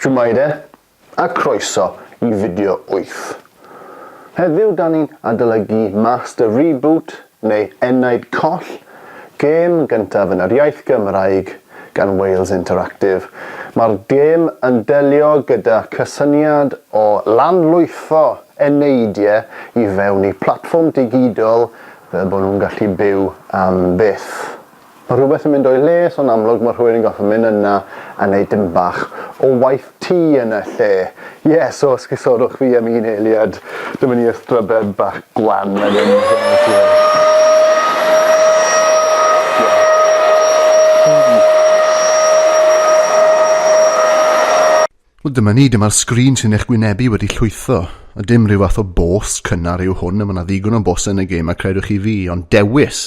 Shwmae a croeso i fideo wyth. Heddiw da ni'n adolygu Master Reboot neu Enaid Coll, gêm gyntaf yn yr iaith Gymraeg gan Wales Interactive. Mae'r gêm yn delio gyda cysyniad o lanlwytho eneidiau i fewn i platfform digidol fel bod nhw'n gallu byw am byth. Mae rhywbeth yn mynd o'i le, so'n amlwg mae rhywun yn gorfod mynd yna a neud dim bach o waith tŷ yn y lle. Ie, so os cysodwch fi am un eiliad, dyma ni y strybed bach gwan mae'n mynd yn y lle. Wel dyma ni, dyma'r sgrin sy'n eich gwynebu wedi llwytho. A dim rhyw fath o bôs cynnar yw hwn, a mae yna ddigon o bôsau yn y gêm a credwch chi fi, ond dewis,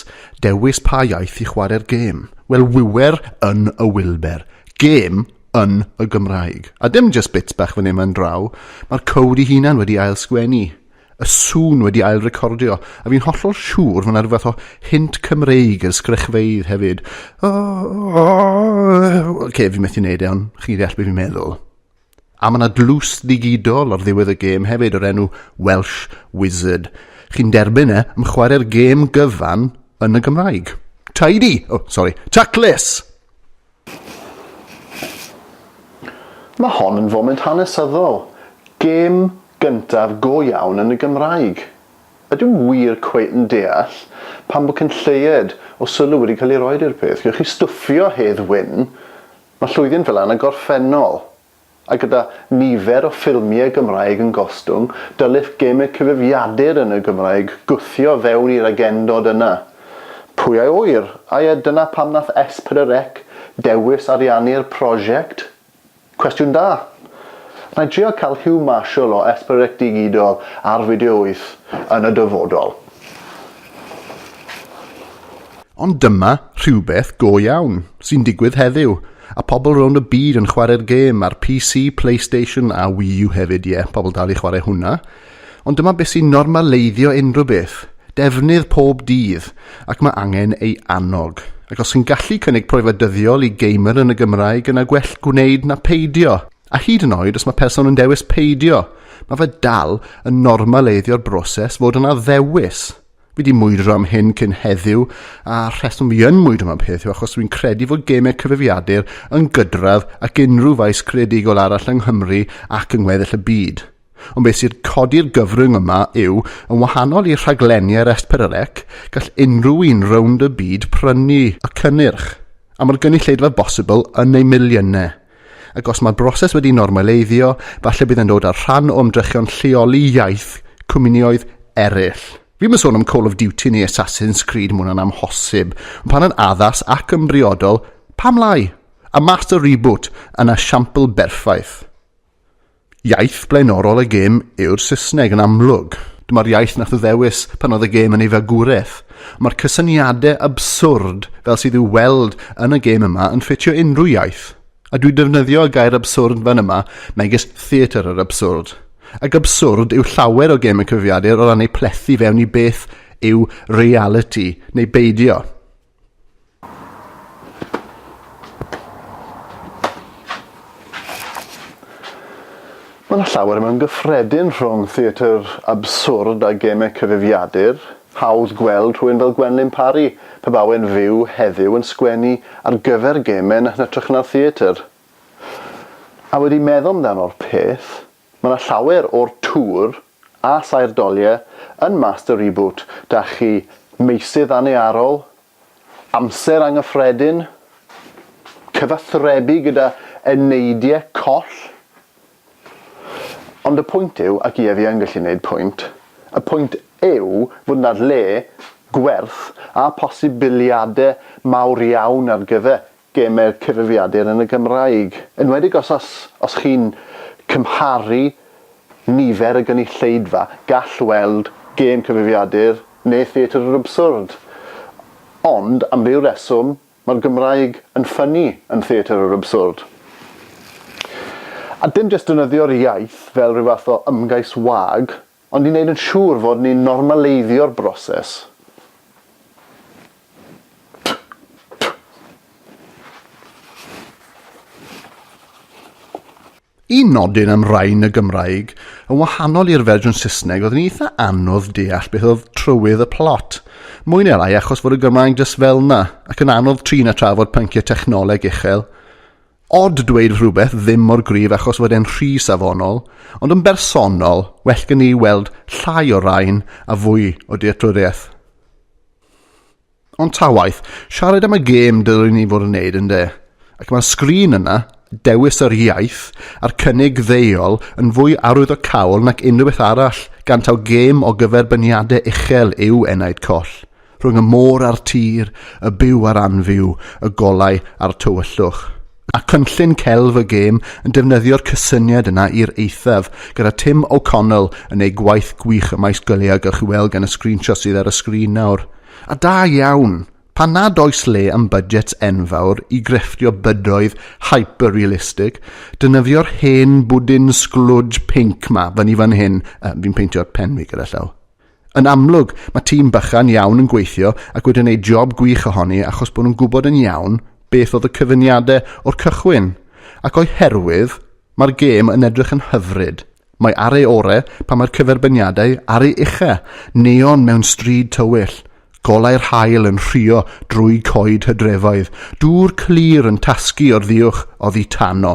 dewis pa iaith i chwarae'r gêm. Wel wiwer yn y wilber, gêm yn y Gymraeg. A dim jyst bits bach fan hyn fan draw, mae'r cowd i hunan wedi ail sgwennu. y sŵn wedi ail recordio, a fi'n hollol siŵr fod 'na rhywbeth o hint Cymreig yr sgrychfeydd hefyd. Oce, fi methu neud e, ond chi'n deall beth fi'n meddwl. A mae yna dlws ddigidol ar ddiwedd y gêm hefyd o'r enw Welsh Wizard. Chi'n derbyn e, am chwarae'r gêm gyfan yn y Gymraeg. Tidy! O, oh, sori, taclus! Mae hon yn foment hanesyddol, gêm gyntaf go iawn yn y Gymraeg. Ydw i wir cweit yn deall pam bod cyn lleied o sylw wedi cael ei roed i'r peth? Gewch chi stwffio Hedd Wyn, mae llwydi'n fel yna gorffennol. A gyda nifer o ffilmiau Gymraeg yn gostwng, dylech gemau cyfrifiadur yn y Gymraeg gwthio fewn i'r agendod yna. Pwy a ŵyr, ai a dyna pam nath S4C dewis ariannu'r prosiect? Cwestiwn da! Nai drio cael Huw Marshall o S4C Digidol ar Fideo Wyth yn y dyfodol. Ond dyma rhywbeth go iawn sy'n digwydd heddiw, a pobl rownd y byd yn chwarae'r gêm ar PC, Playstation a Wii U hefyd, ie, pobl dal i chwarae hwnna. Ond dyma beth sy'n normaleiddio unrhyw beth, defnydd pob dydd, ac mae angen ei annog. Ac os yn gallu cynnig profiad dyddiol i gamer yn y Gymraeg yna gwell gwneud na peidio. A hyd yn oed os mae person yn dewis peidio, mae fe dal yn normaleiddio'r broses fod yna ddewis. Fi wedi mwydro am hyn cyn heddiw, a rheswm fi yn mwydro am y peth yw achos dwi'n credu fod gemau cyfrifiadur yn gydradd ac unrhyw faes creadigol arall yng Nghymru ac yng ngweddill y byd. Ond beth sydd codi'r gyfrwng yma yw, yn wahanol i rhaglenni ar Esperarec, gall unrhyw un rownd y byd prynu y cynnyrch, am yr gynulleidfa bosibl yn eu miliynau. Ac os mae'r broses wedi normaleiddio, falle bydd e'n dod â'r rhan o ymdrechion lleoli iaith cwmnioedd eraill. Fi'm yn sôn am Call of Duty neu Assassin's Creed, mae hwnna'n amhosib. Ond pan yn addas ac yn briodol, pam lai? A Master Reboot yn esiampl berffaith. Iaith blaenorol y gêm yw'r Saesneg yn amlwg. Dyma'r iaith nath o ddewis pan oedd y gêm yn ei fagwraeth. Mae'r cysyniade abswrd fel sydd i'w weld yn y gêm yma yn ffitio unrhyw iaith. A dwi defnyddio y gair abswrd fan yma megis theatr yr abswrd. Ac abswrd yw llawer o gêm y cyfrifiadur o ran ei plethu fewn i beth yw realiti neu beidio. Mae yna llawer mewn gyffredin rhwng theatr abswrd a gemau cyfrifiadur. Hawdd gweld rhywun fel Gwenlyn Parry, pe bai e'n fyw heddiw, yn sgwennu ar gyfer gemau yn hytrach na'r theatr. A wedi meddwl amdano'r peth, Mae 'na llawer o'r tŵr a saer doliau yn Master Reboot 'da chi, meysydd annearol, amser angyffredin, cyfathrebu gyda eneidiau coll. Ond y pwynt yw, ac ie fi yn gallu neud pwynt, y pwynt yw fod 'na le, gwerth a posibiliadau mawr iawn ar gyfer gemau'r cyfrifiadur yn y Gymraeg, enwedig os os os chi'n cymharu nifer y gynulleidfa, gall weld gêm cyfrifiadur neu Theatr yr Abswrd. Ond, am ryw reswm, mae'r Gymraeg yn ffynnu yn Theatr yr Abswrd. A dim jyst defnyddio'r iaith fel rhyw fath o ymgais wag Ond i wneud yn siŵr fod ni'n normaleiddio'r broses, Un nodyn am rain y Gymraeg, yn wahanol i'r fersiwn Saesneg, oedd yn eitha anodd deall beth oedd trywydd y plot. Mwy neu lai achos fod y Gymraeg jyst fel 'na, ac yn anodd trin a trafod pynciau technoleg uchel. Odd dweud rhywbeth ddim mor gryf achos fod e'n rhy safonol, ond yn bersonol, well gen i weld llai o rain a fwy o dealltwriaeth. Ond ta waeth, siarad am y gêm dylwn ni fod yn neud yn de. Ac mae'r sgrin yna, dewis yr iaith, a'r cynnig ddeuol yn fwy arwyddocaol nac unrhyw beth arall, gan taw gêm o gyferbyniade uchel yw Enaid Coll. rhwng y môr a'r tir, y byw a'r anfyw, y golau a'r tywyllwch. Mae cynllun Celf y Gêm yn defnyddio'r cysyniad yna i'r eithaf, gyda Tim O'Connell yn ei gwaith gwych ym maes gwyliau a gewch chi weld gan y sgrinshots sydd ar y sgrin nawr. A da iawn! Pan nad oes le am budgets enfawr i grefftio bydoedd hyper-realistig, defnyddio'r hen bwdin sglwj pinc 'ma fyny fan hyn, yy, fi'n peintio'r pen fi gyda llaw. Yn amlwg, mae tîm bychan iawn yn gweithio ac wedi wneud job gwych ohoni achos bod nhw'n gwybod yn iawn beth oedd y cyfuniadau o'r cychwyn, ac o'i herwydd, mae'r gêm yn edrych yn hyfryd. Mae ar ei ore pan mae'r cyferbyniadau ar ei ucha, neon mewn stryd tywyll, golau'r haul yn rhuo drwy coed hydrefoedd, dŵr clir yn tasgu o'r ddiuwch oddi tano.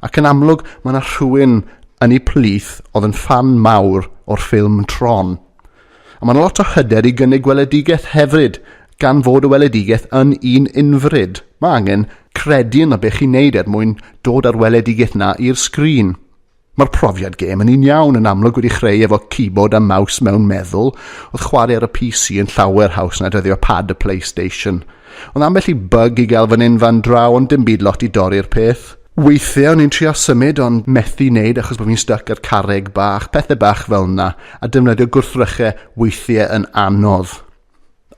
Ac yn amlwg, mae yna rhywun yn ei plith oedd yn ffan mawr o'r ffilm Tron. A mae'n lot o hyder i gynnig gweledigaeth hefyd, gan fod y weledigaeth yn un unfryd. Mae angen credu yn y beth chi'n neud er mwyn dod â'r weledigaeth na i'r sgrin. Mae'r profiad gêm yn un iawn yn amlwg wedi chreu efo keyboard a mouse mewn meddwl, oedd chwarae ar y PC yn llawer haws na dyddio pad y Playstation. Ond ambell i bug i gael fan hyn fan draw ond dim byd lot i dorri'r peth. Weithiau o'n i'n trio symud ond methu neud achos bod fi'n styc ar carreg bach, pethau bach fel na, a defnyddio gwrthrychau weithiau yn anodd.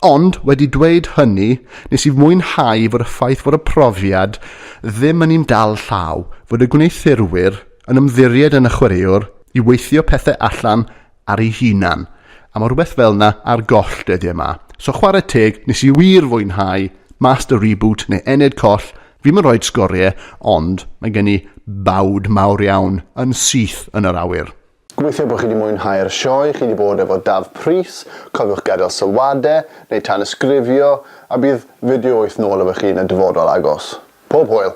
Ond, wedi dweud hynny, nes i fwynhau fod y ffaith fod y profiad ddim yn un dal llaw, fod y gwneuthurwyr yn ymddiried yn y chwaraewr i weithio pethau allan ar ei hunan, a ma' rhywbeth fel 'na ar goll dyddie 'ma. So chware teg, nes i wir fwynhau Master Reboot neu Ened Coll, fi'm yn rhoid sgorie, ond mae gen i bawd mawr iawn yn syth yn yr awyr. Gobeithio bod chi 'di mwynhau'r sioe chi 'di bod efo Daf Prys, cofiwch gadael sylwade, neu tanysgrifio, a bydd fideo wyth nôl efo chi yn y dyfodol agos. Pob hwyl!